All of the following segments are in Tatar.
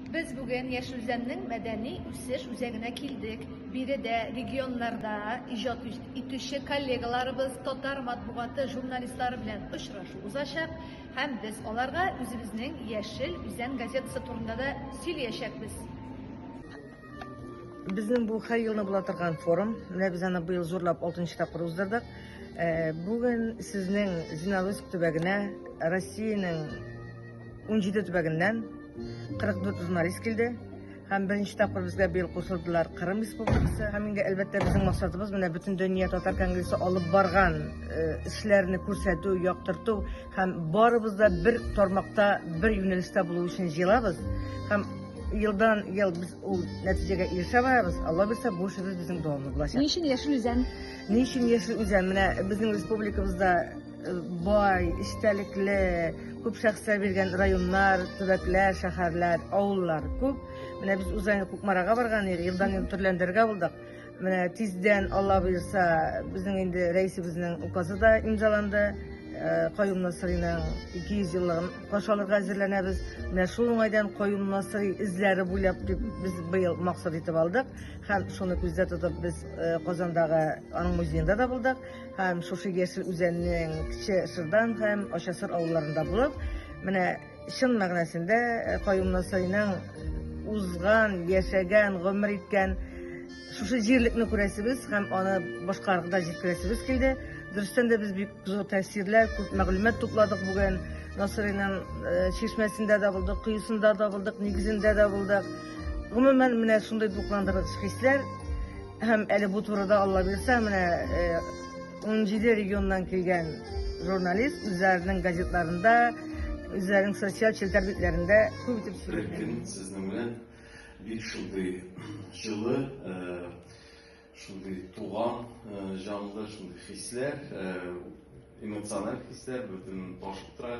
Без бүген Яшелзәннең мәдәни үсеш үзәгенә килдек. Биредә регионнарда иҗат итүче коллегаларыбыз, татар матбугаты журналистлары белән очрашу узачак һәм без аларга үзебезнең Яшел Үзән газетасы турында да сөйләячәкбез. Безнең бу һәр елны була торган форум. Менә без аны быел зурлап 6 тапкыр уздырдык. Э, бүген сезнең Зиналовск төбәгенә Россиянең 17 төбәгеннән 44 журналист килде. Һәм беренче тапкыр безгә быел кушылдылар Кырым Республикасы. Һәм инде әлбәттә безнең максатыбыз менә бөтен дөнья татар конгрессы алып барган э, эшләрне күрсәтү, яктырту һәм барыбыз да бер тармакта, бер юнәлештә булу өчен җыелабыз. Һәм елдан ел без ул нәтиҗәгә ирешә барабыз. Алла бирсә, бу эшебез безнең дәвамлы булачак. Ни өчен яшел үзән? Ни өчен яшел үзән? Менә безнең республикабызда Э, бай, истәлекле, күп шәхесләр биргән районнар, төбәкләр, шәһәрләр, авыллар күп. Менә без узган Кукмарага барган идек, елдан ел төрләндергә булдык. Менә тиздән, Алла бирса, безнең инде рәисебезнең указы да имзаланды. Э, Каюм Насыриның 200 еллыгын каршы алырга әзерләнәбез. Менә шул уңайдан Каюм Насыри эзләре буйлап дип без быел максат итеп алдык. Һәм шуны күздә тотып без э, Казандагы аның музеенда да булдык. һәм шушы яшел үзәннең кече шырдан һәм ачасыр авылларында булып менә чын мәгънәсендә э, каюмнасыйның узган яшәгән гомер иткән шушы җирлекне күрәсебез һәм аны башкаларга да җиткерәсебез килде дөрестән дә без бик зур тәэсирләр күп мәгълүмат тупладык бүген насыйриның э, чишмәсендә дә булдык коесында да булдык нигезендә дә булдык гомумән менә шундый дулкындыргыч хисләр Һәм әле бу турыда Алла бирсә, менә 17 э, регионнан килгән журналист үзләренең газетларында, үзләренең социаль челтәр битләрендә күп итеп сөйләгән. Сезнең белән бик шундый җылы, э, шундый туган э, җанлы, шундый хисләр, эмоциональ хисләр бөтен ташып тора.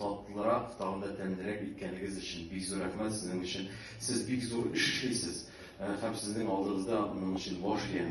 Татлырак, тагын да тәмлерәк иткәнегез өчен бик зур рәхмәт сезнең өчен. Сез бик зур эш эшлисез һәм сезнең алдыгызда моның өчен баш ия.